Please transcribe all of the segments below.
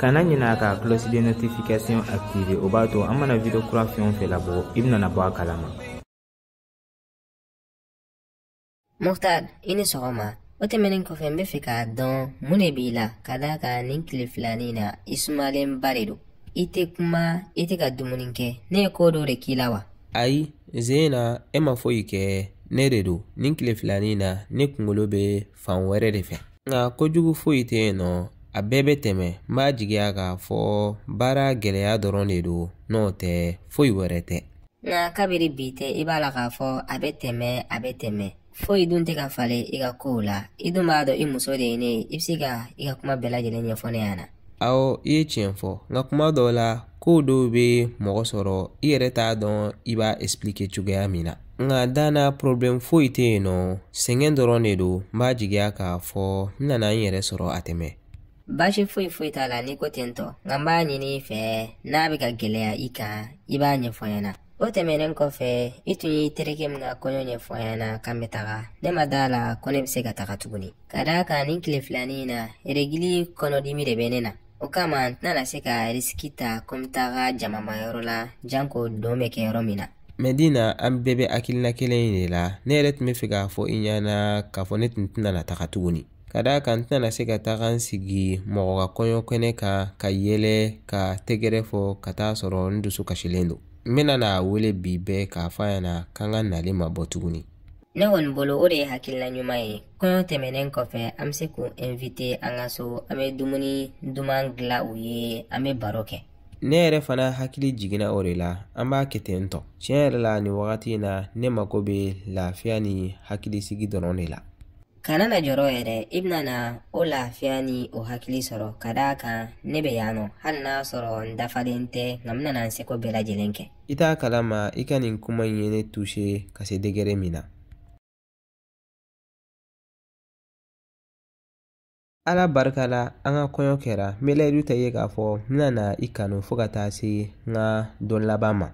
kana ɲina ka cloche de notification activer o b'a to an mana video kura fɛn o fɛn labɔ i bɛna na bɔ a kalama muktar i ni sɔgɔma o tɛmɛnen kɔfɛ n bɛ fɛ k'a dɔn mun de b'i la ka d'a kan nin tile filani na i sumalenba de don i tɛ kuma i tɛ ka dumuni kɛ ne ye ko dɔ de k'i la wa ayi zena e ma foyi kɛ ne de don nin tile filani na ne kunkolo bɛ fan wɛrɛ de fɛ nka ko jugu foyi tɛ yen nɔ a bɛɛ bɛ tɛmɛ n b'a jigiya k'a fɔ baara gɛlɛya dɔrɔn de don n'o tɛ foyi wɛrɛ tɛ nka kabiri bi tɛ i b'a la k'a fɔ a bɛ tɛmɛ a bɛ tɛmɛ foyi dun tɛ ka falen i ka kow la i dun b'a dɔn i muso de ye ne ye i bɛ se ka i ka kuma bɛɛ lajɛlen ɲɛfɔ ne ɲɛna awɔ i ye tiɲɛ fɔ nka kuma dɔw la ko dɔw bɛ mɔgɔ sɔrɔ i yɛrɛ t'a dɔn i b'a expliquer cogoya min na nka da n na porobilɛmu foyi tɛ yen nɔ sɛgɛn dɔrɔn de don n b'a jigiya k'a fɔ n nana n yɛrɛ sɔrɔ a tɛmɛ baasi foyi foyi t'a la n'i ko ten tɔ nka n b'a ɲini i fɛ n'a bɛ ka gɛlɛya i kan i b'a ɲɛfɔ n ɲɛna o tɛmɛnen kɔfɛ i tun y'i terikɛ min ka kɔɲɔ ɲɛfɔ n ɲɛna k'an bɛ taga ne ma d'a la ko ne bɛ se ka taga tuguni Ka d'a kan nin tile filani in na eregili kɔnɔdimi de bɛ ne na o kama n tɛna na se ka risiki ta ko n bɛ taga jamama yɔrɔ la janko dɔn bɛ kɛ yɔrɔ min na mɛdina an bɛɛ bɛ hakilina kelen in de la ne yɛrɛ tun bɛ fɛ k'a fɔ i ɲɛna k'a fɔ ne tun tɛna na taga tuguni ka d'a kan n tɛna na se ka taga n sigi mɔgɔ ka kɔɲɔ kɛnɛ kan ka yɛlɛ ka tɛgɛrɛ fɔ ka taa sɔrɔ n dusu kasilen don n bɛna n'a wele bi bɛɛ k'a fɔ a ɲɛna k'an ka nali ma bɔ tuguni ne kɔni bolo o de ye hakilina ɲuman ye kɔɲɔ tɛmɛnen kɔfɛ an bɛ se k'u inviter an ka so an bɛ dumuni duman dilan u ye an bɛ baro kɛ ne yɛrɛ fana hakili jiginna o de la an b'a kɛ ten tɔ tiɲɛ yɛrɛ la nin wagati in na ne mako bɛ lafiya ni hakilisigi dɔrɔn de la kana na jɔrɔ yɛrɛ i bɛna na o lafiya ni o hakili sɔrɔ ka d'a kan ne bɛ yan nɔ hali n'a sɔrɔ n dafalen tɛ nka n bɛna na n seko bɛɛ lajɛlen kɛ i t'a kalama i ka nin kuma in ye ne toucher ka se degré min na ala barika la an ka kɔɲɔ kɛra n bɛ layidu ta i ye k'a fɔ n bɛna na i kanu fo ka taa se n ka don laban ma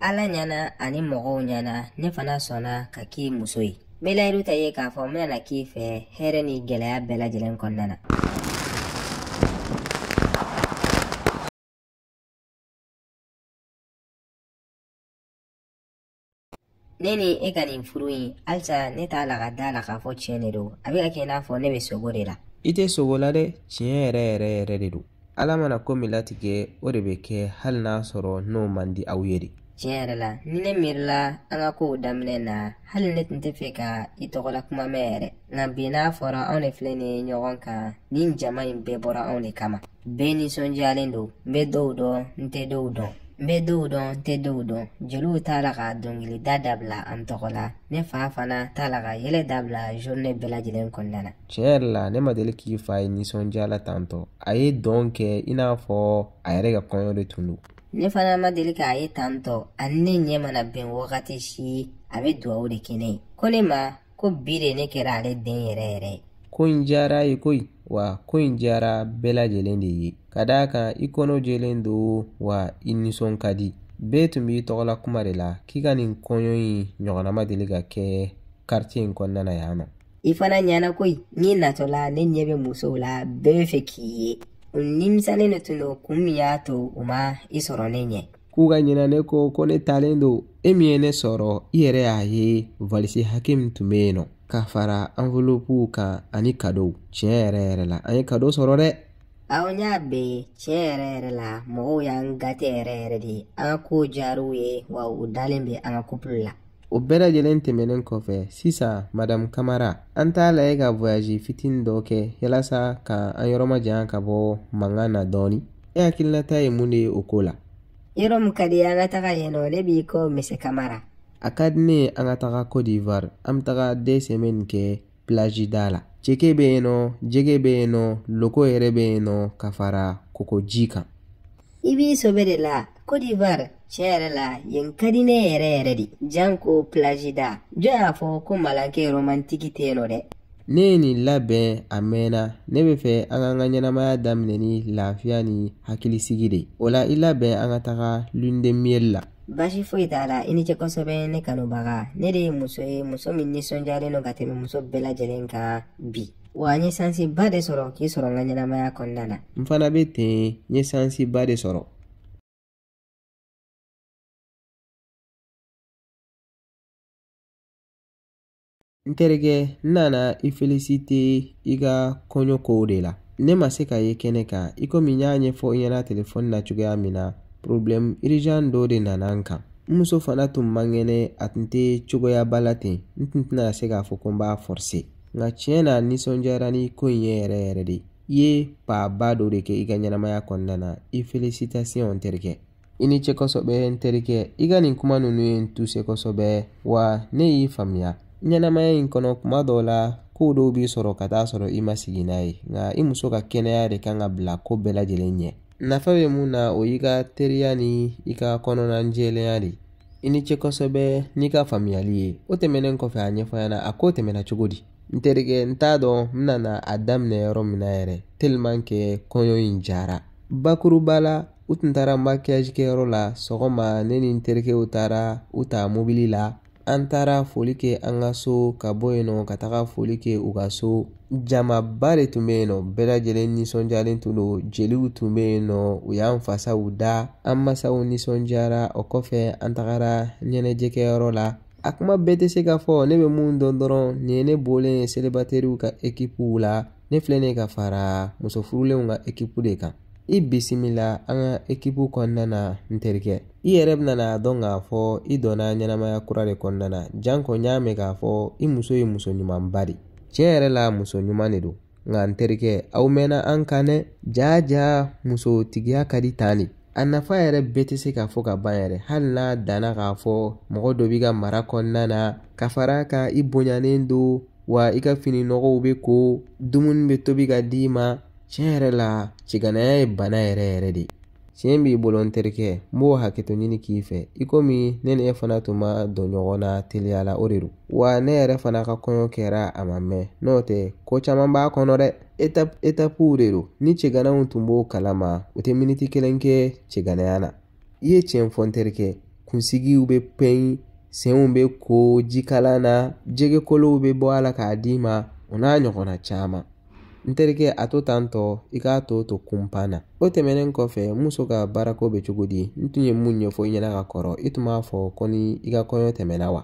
ala ɲɛna ani mɔgɔw ɲɛna ne fana sɔnna ka k'i muso ye n bɛ layidu ta i ye k'a fɔ n bɛna na k'i fɛ hɛrɛ ni gɛlɛya bɛɛ lajɛlen kɔnɔna na ne ni e ka nin furu in halisa ne t'a la ka d'a la k'a fɔ tiɲɛ de don a bɛ ka kɛ i n'a fɔ ne bɛ sugo de la i tɛ sugo la dɛ tiɲɛ yɛrɛ yɛrɛ yɛrɛ de don ala mana ko min latigɛ o de bɛ kɛ hali n'a sɔrɔ n'o man di aw ye de tiɲɛ yɛrɛ la ni ne miirila an ka kow daminɛ na hali ne tun tɛ fɛ ka i tɔgɔla kuma mɛn yɛrɛ nka bi n'a fɔra anw de filɛ nin ye ɲɔgɔn kan nin jama in bɛɛ bɔra anw de kama bɛɛ nisɔndiyalen don n bɛ dɔw dɔn n tɛ dɔw dɔn n bɛ dɔw dɔn n tɛ dɔw dɔn jeliw t'a la ka dɔnkilida dabila an tɔgɔ la ne fa fana t'a la ka yɛlɛ dabila journée bɛɛ lajɛlen kɔnɔna na tiɲɛ yɛrɛ la ne ma deli k'i fa ye nisɔndiya la tantɔ a ye dɔn kɛ i n'a fɔ a yɛrɛ ka kɔɲɔ de tun don ne fana ma deli k'a ye tantɔ ani ne ɲɛ mana bɛn wagati si a bɛ dugawu de kɛ ne ye ko ne ma ko bi de ne kɛra ale den yɛrɛ yɛrɛ ye ko in diyara ye koyi wa ko in diyara bɛɛ lajɛlen de ye ka d'a kan i kɔnɔ jɛlen don wa i nisɔn ka di bɛɛ tun b'i tɔgɔla kuma de la k'i ka nin kɔɲɔ in ɲɔgɔnna ma deli ka kɛ karitiye in kɔnɔna na yan nɔ i fana ɲana koyi n'i natɔla ne ɲɛ bɛ musow la bɛɛ bɛ fɛ k'i ye u nimisalen de tun don kun min y'a to u ma i sɔrɔ ne ɲɛ k'u ka ɲinɛ ne kɔ ko ne talen don e min ye ne sɔrɔ i yɛrɛ y'a ye valisi hakɛ min tun bɛ yen nɔ ka fara anvolopuw kan ani kadow tiɲɛ yɛrɛ yɛrɛ la an ye kado sɔrɔ dɛ aw n y'a bɛ tiɲɛ yɛrɛ yɛrɛ la mɔgɔw y'an gate yɛrɛ yɛrɛ de ye an ka kow diyar'u ye wa u dalen bɛ an ka kupulu la o bɛɛ lajɛlen tɛmɛnen kɔfɛ sisan madamu kamara an t'a lajɛ ka voyazi fitini dɔ kɛ yalasa ka an yɔrɔ majanya ka bɔ mankan na dɔɔni e hakilinata ye mun de ye o ko la yɔrɔ min ka di an ka taga yen nɔ ne b'i kɔ mise kamara a ka di ne ye an ka taga cote d'ivoire an bɛ taga deux semaines kɛ pilaji da la ceke bɛ yen nɔ jɛgɛ bɛ yen nɔ loko yɛrɛ bɛ yen nɔ ka fara kɔkɔji kan i b'i sɔbɛ de la Côte d'Ivoire tiɲɛ yɛrɛ la yen ka di ne yɛrɛ yɛrɛ de janko pilaji da jɔn y'a fɔ ko malankɛ romantiki tɛ yen nɔ dɛ ne ye nin labɛn a mɛnna ne bɛ fɛ an k'an ka ɲɛnamaya daminɛ ni lafiya ni hakilisigi de ye o la i labɛn an ka taga lundemiyɛli la Basi foyi t'a la i ni ce kosɛbɛ ne kanubaga ne de ye muso ye muso min nisɔndiyalen don ka tɛmɛ muso bɛɛ lajɛlen kan bi wa n ye sansiba de sɔrɔ k'i sɔrɔ n ka ɲɛnamaya kɔnɔna na n fana bɛ ten n ye sansiba de sɔrɔ n terikɛ n nana i felisite i ka kɔɲɔ kow de la ne ma se ka ye kɛnɛ kan i komi n y'a ɲɛfɔ i ɲɛna telefɔni na cogoya min na porobilɛmu irizan dɔ de nana n kan n muso fana tun man kɛnɛ a tun tɛ cogoyaba la ten n tun tɛna se k'a fɔ ko n b'a fɔrse nka tiɲɛ na n nisɔndiyara ni ko in ye yɛrɛ yɛrɛ de i ye paaba dɔ de kɛ i ka ɲɛnamaya kɔnɔna na i felisitasiɔn n terikɛ i ni ce kosɛbɛ n terikɛ i ka nin kuma ninnu ye n tuse kosɛbɛ wa ne y'i faamuya ɲɛnamaya in kɔnɔ kuma dɔw la kow dɔw b'i sɔrɔ ka taa sɔrɔ i ma sigi n'a ye nka i muso ka kɛnɛya de kan ka bila ko bɛɛ lajɛlen ɲɛ nafa bɛ mun na o y'i ka teriya ni i ka kɔnɔna jɛlenya de i ni ce kosɛbɛ n'i ka faamuyali ye o tɛmɛnen kɔfɛ a ɲɛfɔ n ɲɛna a ko tɛmɛna cogo di n terikɛ n t'a dɔn n bɛna a daminɛ yɔrɔ min na yɛrɛ tellement que kɔɲɔ in diyara bakuruba la u tun taara makiyaji kɛyɔrɔ la sɔgɔma ne ni n terikɛw taara u ta mobili la an taara foli kɛ an ka so ka bɔ yen nɔ ka taga foli kɛ u ka so jamaba de tun bɛ yen nɔ bɛɛ lajɛlen nisɔndiyalen tun don jeliw tun bɛ yen nɔ u y'an fasaw da an masaw nisɔndiyara o kɔfɛ an tagara ɲɛnajɛkɛyɔrɔ la a kuma bɛɛ tɛ se ka fɔ ne bɛ mun dɔn dɔrɔn nin ye ne bɔlen ye selibateriw ka ekipuw la ne filɛ nin ye ka fara muso furulenw ka ekipu de kan i bisimila an ka ekipu kɔnɔna na n terikɛ i yɛrɛ bɛna n'a dɔn k'a fɔ i donna ɲɛnamaya kura de kɔnɔna na janko n y'a mɛn k'a fɔ i muso ye muso ɲumanba de tiɲɛ yɛrɛ la muso ɲuman de don nka n terikɛ aw mɛnna an kan dɛ jaa jaa musotigiya ka di tan de a nafa yɛrɛ bɛɛ tɛ se ka fɔ ka ban yɛrɛ hali n'a danna k'a fɔ mɔgɔ dɔ b'i ka mara kɔnɔna na ka fara kan i bonyanen don wa i ka fini nɔgɔw bɛ ko dumuni bɛ tobi ka d'i ma tiɲɛ yɛrɛ la cɛganaya ye bana yɛrɛ yɛrɛ de tiɲɛ b'i bolo n terikɛ n b'o hakɛto ɲini k'i fɛ i komi ne ni e fana tun ma don ɲɔgɔn na teliya la o de don wa ne yɛrɛ fana ka kɔɲɔ kɛra a ma mɛn n'o tɛ ko caman b'a kɔnɔ dɛ etapuw de don ni cɛganaw tun b'o kalama u tɛ miniti kelen kɛ cɛganaya na i ye tiɲɛ fɔ n terikɛ kunsigiw bɛ pɛn senw bɛ ko jikalan na jɛgɛkolow bɛ bɔ a la k'a d'i ma o n'a ɲɔgɔnna caman n terikɛ a to tan tɔ i k'a tɔ to kunpan na o tɛmɛnen kɔfɛ muso ka baarako bɛ cogo di n tun ye mun ɲɛfɔ i ɲɛna ka kɔrɔ i tun b'a fɔ ko ni i ka kɔɲɔ tɛmɛna wa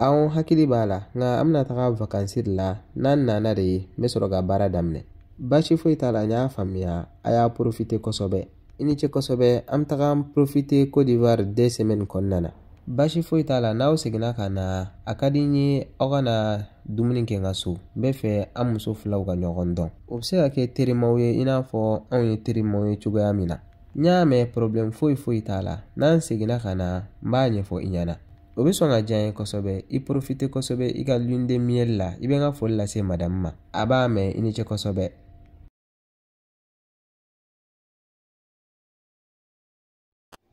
awɔ n hakili b'a la nka an bɛna taga vakansi de la n'an nana de n bɛ sɔrɔ ka baara daminɛ baasi foyi t'a la n y'a faamuya a y'a porofite kosɛbɛ i ni ce kosɛbɛ an bɛ taga profite cote d'ivoire deux semaines kɔnɔna na baasi foyi t'a la n'aw seginna ka na a ka di n ye aw ka na dumuni kɛ n ka so n b'a fɛ an muso filaw ka ɲɔgɔn dɔn u bɛ se ka kɛ terimaw ye i n'a fɔ anw ye terimaw ye cogoya min na n y'a mɛn porobilɛmu foyi foyi t'a la n'an seginna ka na n b'a ɲɛfɔ i ɲɛna o bɛ sɔn ka diya n ye kosɛbɛ i porofite kosɛbɛ i ka lune de miel la i bɛ n ka foli lase madamu ma a b'a mɛn i ni ce kosɛbɛ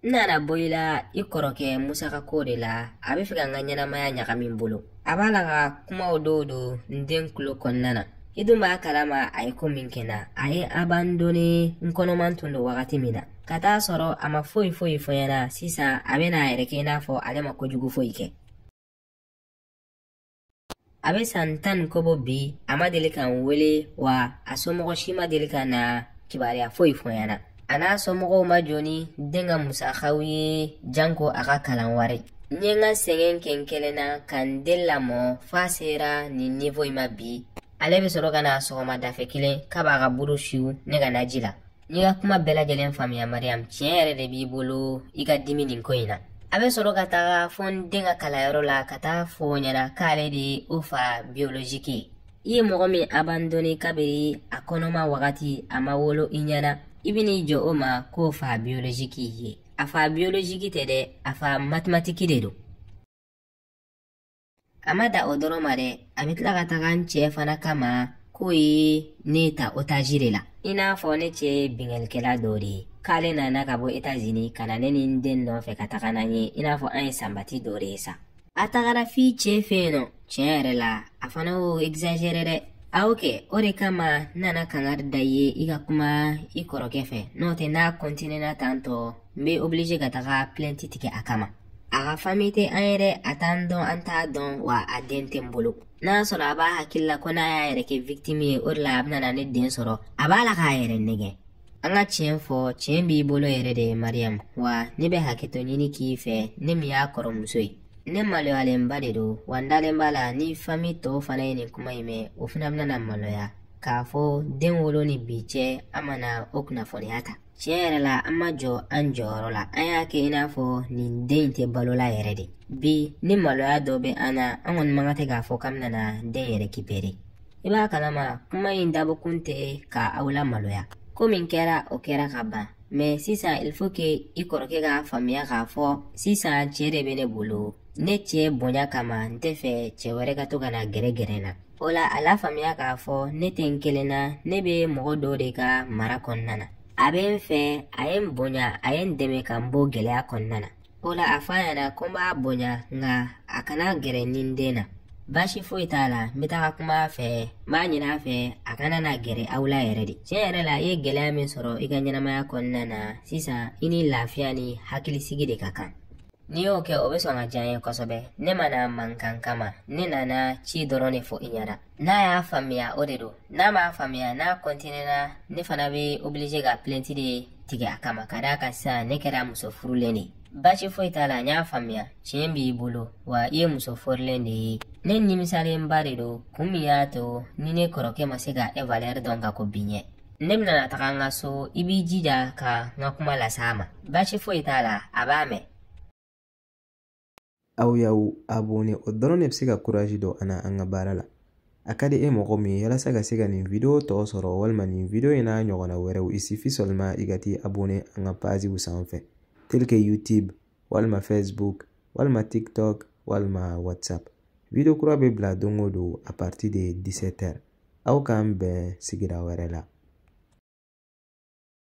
n nana bɔ i la i kɔrɔkɛ musa ka ko de la a bɛ fɛ ka n ka ɲɛnamaya ɲagami n bolo a b'a la ka kumaw dɔw don n den tulo kɔnɔna na i dun b'a kalama a ye ko min kɛ n na a ye abandone n kɔnɔman tun don wagati min na ka t'a sɔrɔ a ma foyi foyi fɔ n ɲɛna sisan a bɛna a yɛrɛ kɛ i n'a fɔ ale ma kojugu foyi kɛ a bɛ san tan ni kɔ bɔ bi a ma deli ka n wele wa a somɔgɔ si ma deli ka na kibaruya foyi fɔ n ɲɛna a n'a somɔgɔw ma jɔ ni den ka musakaw ye janko a ka kalan wari n ye n ka sɛgɛn kɛ n kelen na ka n den lamɔ f'a sera nin nivo in ma bi ale bɛ sɔrɔ ka na sɔgɔmadafɛ kelen k'a b'a ka buru su ne ka naji la n y'i ka kuma bɛɛ lajɛlen faamuya mariyamu tiɲɛ yɛrɛ de b'i bolo i ka dimi nin ko in na a bɛ sɔrɔ ka taga fɔ n den ka kalanyɔrɔ la ka taa fɔ o ɲɛna k'ale de ye o fa biyoloziki ye i ye mɔgɔ min abandone kabiri a kɔnɔma wagati a ma wolo i ɲɛna i bɛ n'i jɔ o ma k'o fa biyoloziki ye a fa biyoloziki tɛ dɛ a fa matimatiki de don A ma da o dɔrɔn ma dɛ a bɛ tila ka taga n cɛ fana kama k'o ye ne ta otaji de la i n'a fɔ ne cɛ ye binkannikɛla dɔ de ye k'ale nana ka bɔ etazini ka na ne ni n den nɔfɛ ka taga n'an ye i n'a fɔ an ye sanbati dɔ de ye sa a tagara f'i cɛ fɛ yen nɔ tiɲɛ yɛrɛ la a fana y'o exagere dɛ a y'o kɛ o de kama n nana kangari da i ye i ka kuma i kɔrɔkɛ fɛ n'o tɛ n'a kɔntinena tan tɔ n bɛ oblige ka taga plɛnti tigɛ a kama a ka fami tɛ an yɛrɛ a t'an dɔn an t'a dɔn wa a den tɛ n bolo n'a sɔrɔ a b'a hakili la ko n'a y'a yɛrɛ kɛ victime ye o de la a bɛna na ne den sɔrɔ a b'a la k'a yɛrɛ nɛgɛn an ka tiɲɛ fɔ tiɲɛ b'i bolo yɛrɛ de mariyamu wa ne bɛ hakɛto ɲini k'i fɛ ne min y'a kɔrɔmuso ye ne maloyalenba de don wa n dalen b'a la ni fami tɔw fana ye nin kuma in mɛn o fana bɛna na maloya k'a fɔ den wolo ni bi cɛ an ma na o kunnafoniya ta tiɲɛ yɛrɛ la an ma jɔ an jɔyɔrɔ la an y'a kɛ i n'a fɔ nin den in tɛ balo la yɛrɛ de bi ni maloya dɔ bɛ an na an kɔni mankan tɛ k'a fɔ k'an bɛna den in rekipere i b'a kalama kuma in dabɔkun tɛ ka aw lamaloya ko min kɛra o kɛra ka ban mɛ sisan il faut que i kɔrɔkɛ k'a faamuya k'a fɔ sisan cɛ de bɛ ne bolo ne cɛ bonya kama n tɛ fɛ cɛ wɛrɛ ka to ka na gɛrɛ gɛrɛ n na o la a lafaamuya k'a fɔ ne tɛ n kelen na ne bɛ mɔgɔ dɔ de ka mara kɔnɔna na a bɛ n fɛ a ye n bonya a ye n dɛmɛ ka n bɔ gɛlɛya kɔnɔna na o la a fɔ a ɲɛna ko n b'a bonya nka a kana gɛrɛ n ni n den na baasi foyi t'a la n bɛ taga kuma a fɛ n b'a ɲini a fɛ a kana na gɛrɛ aw la yɛrɛ de tiɲɛ yɛrɛ la i ye gɛlɛya min sɔrɔ i ka ɲɛnamaya kɔnɔna na sisan i ni lafiya ni hakilisigi de ka kan N'i y'o kɛ o bɛ sɔn ka diya n ye kosɛbɛ ne ma na mankan kama ne nana ci dɔrɔn de fɔ i ɲɛna n'a y'a faamuya o de don n'a m'a faamuya n'a kɔntinɛna ne fana bɛ oblige ka pilɛnti de tigɛ a kama ka d'a kan sisan ne kɛra muso furulen de ye baasi foyi t'a la n y'a faamuya tiɲɛ b'i bolo wa i ye muso furulen de ye ne nimisalenba de don kun min y'a to ni ne kɔrɔkɛ ma se ka e valɛri dɔn ka kɔn bi ɲɛ ne bɛna taga n ka so i b'i jija ka n ka kuma las'a ma baasi foyi t'a la a b'a mɛn aw y'aw abone o dɔrɔn de bɛ se ka kurazi don an na an ka baara la a ka di e mɔgɔ min ye yalasa ka se ka nin video tɔ sɔrɔ walima nin video in n'a ɲɔgɔnna wɛrɛw il suffit seulement i ka t'i abone an ka paziw sanfɛ tel que youtube walima facebook walima tiktok walima whatsapp video kura bɛ bila don o don a partir de 17 heures aw k'an bɛn sigira wɛrɛ la